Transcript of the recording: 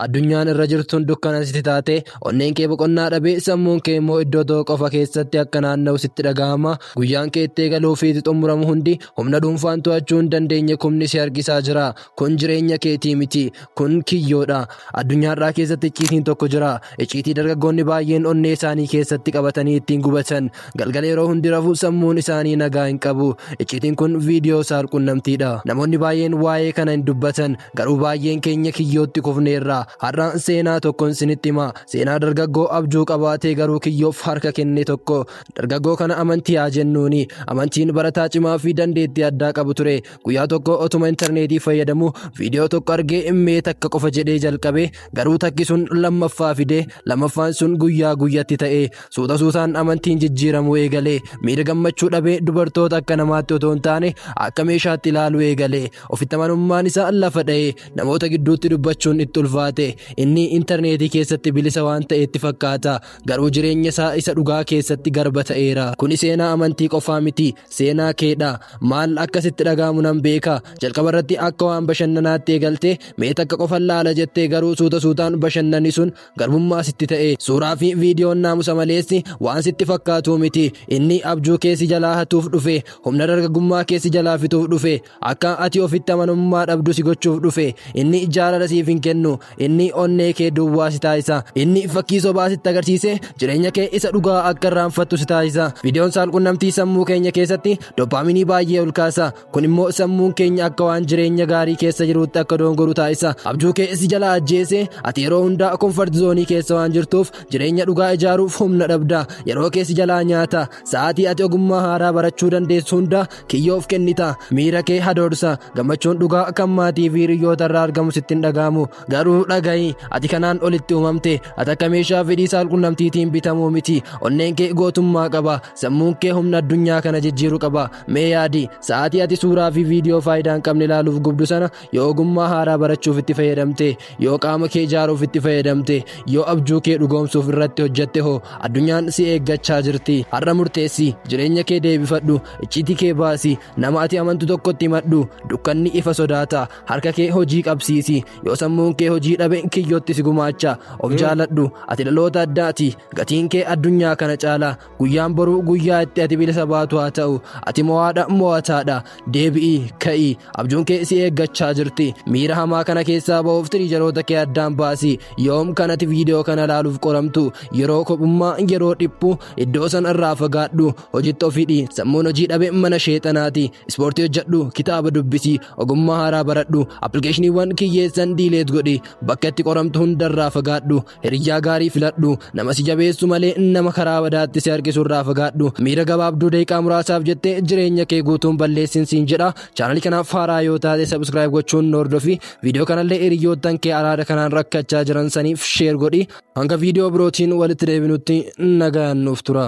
Addunyaan irra jirtuun dukkana sitti taate onneen kee boqonnaa dhabee sammuun kee immoo iddoo tokko qofa keessatti akka naanna'u sitti dhaga'ama guyyaan kee itti eegaluu fi itti xumuramu hundi humna dhuunfaan to'achuu hin dandeenye kumni si harkisaa jira kun jireenya keetii miti kun kiyyoodha addunyaarraa keessatti icciitiin tokko jira icciitii dargaggoonni baay'een onnee isaanii keessatti qabatanii ittiin gubatan Galgala yeroo hundi rafu sammuun isaanii nagaa hin qabu. Icciitiin kun viidiyoo saalqunnamtiidha. Namoonni baay'een waa'ee kana hin dubbatan. Garuu baay'een keenya kiyyootti kufneerra. Har'a seenaa tokkon isinitti hima. Seenaa dargaggoo abjuu qabaatee garuu kiyyoof harka kenne tokko. Dargaggoo kana amantii haa jennuuni. Amantiin barataa cimaa fi dandeettii addaa qabu ture. Guyyaa tokko otuma intarneetii fayyadamu viidiyoo tokko argee mee takka qofa jedhee jalqabe. Garuu takki sun lammaffaa fidee lammaffaan sun guyyaa guyyatti ta'ee suuta suutaan amantiin jijjiiramuu eegalee miira gammachuu dhabee dubartoota akka namaatti otoo hin taane akka meeshaatti ilaaluu eegalee ofitti amanummaan isaa lafa dha'ee namoota gidduutti dubbachuun itti ulfaate inni intarneetii keessatti bilisa waan ta'eetti fakkaata garuu jireenya isaa isa dhugaa keessatti garba ta'eera kuni seenaa amantii qofaa miti seenaa keedha maal akka sitti dhaga'amu nan beeka jalqaba irratti akka waan bashannanaatti eegalte mee takka qofan laala jettee garuu suuta suutaan bashannani sun garbummaa sitti ta'e suuraa fi viidiyoon naamusa maleessi waan sitti fakkaatuu miti inni abjuu keessi jalaa hatuuf dhufe humna dargaggummaa keessi jalaa fixuuf dhufe Akka ati ofitti amanummaa dhabdu si gochuuf dhufe. Inni jaalala siif hin kennu. Inni onnee kee duwwaa si taasisa. Inni fakkii sobaa sitti agarsiise jireenya kee isa dhugaa akka irraanfattu si taasisa. Viidiyoon saalqunnamtii sammuu keenya keessatti doppaaminii baay'ee ol kaasa. Kun immoo sammuun keenya akka waan jireenya gaarii keessa jiruutti akka doongoru taasisa. Abjuu kee si jalaa ajjeese ati yeroo hundaa komfort zoonii keessa waan jirtuuf jireenya dhugaa ijaaruuf humna dhabda. Yeroo kee si jalaa nyaata. Sa'aatii ati ogummaa haaraa barachuu dandeessu hunda kiyyoof kennita miira kee hadoorsa gammachuun dhugaa kan maatii fi hiriyoota irraa argamu sitti hin dhaga'amu garuu dhaga'i ati kanaan olitti uumamte ati akka meeshaa fedhii saalqunnamtiitiin bitamuu miti onneen kee gootummaa qaba sammuun kee humna addunyaa kana jijjiiru qaba mee yaadi sa'aatii ati suuraa fi viidiyoo faayidaa hin qabne ilaaluuf gubdu sana yoo ogummaa haaraa barachuuf itti fayyadamte yoo qaama kee ijaaruuf itti fayyadamte yoo abjuu kee dhugoomsuuf irratti hojjette hoo addunyaan si eeggachaa jirti har'a murteessi jireenya kee deebifadhu icciitii kee baasi nama ati amantu tokkotti himadhu dukkanni ifa sodaata harka kee hojii qabsiisi yoo sammuun kee hojii dhabe kiyyootti si gumaacha of jaaladhu ati dhaloota addaati gatiin kee addunyaa kana caala Guyyaan boruu guyyaa itti ati bilisa baatu haa ta'u. Ati mo'aadha mo'ataadha. Deebi'i ka'i. Abjuun kee si eeggachaa jirti. Miira hamaa kana keessaa ba'uuf tiriijaroota kee addaan baasi. Yoom kan ati viidiyoo kana ilaaluuf qoramtu? Yeroo kophummaa, yeroo dhiphu, iddoo sana irraa fagaadhu. Hojitti of hidhi. Sammuun hojii dhabe mana sheexanaati. Ispoortii hojjedhu, kitaaba dubbisi, ogummaa haaraa baradhu, appilikeeshiniiwwan kiyyeessan diileet godhi. Bakka itti qoramtu hundarraa fagaadhu. Hiriyyaa gaarii filadhu. Nama si jabeessu malee nama karaa badaatti si harkisu irraa fagaadhu. Miira gabaabduu daqiiqaa muraasaaf jettee jireenya kee guutuun balleessin siin jedha. Chaanalii kanaaf haaraa yoo taate subscribe gochuun nu hordofi. Viidiyoo kanallee hiriyoottan kee araada kanaan rakkachaa jiran saniif share godhi. Hanga viidiyoo birootiin walitti deebinutti nagaan nuuf tura.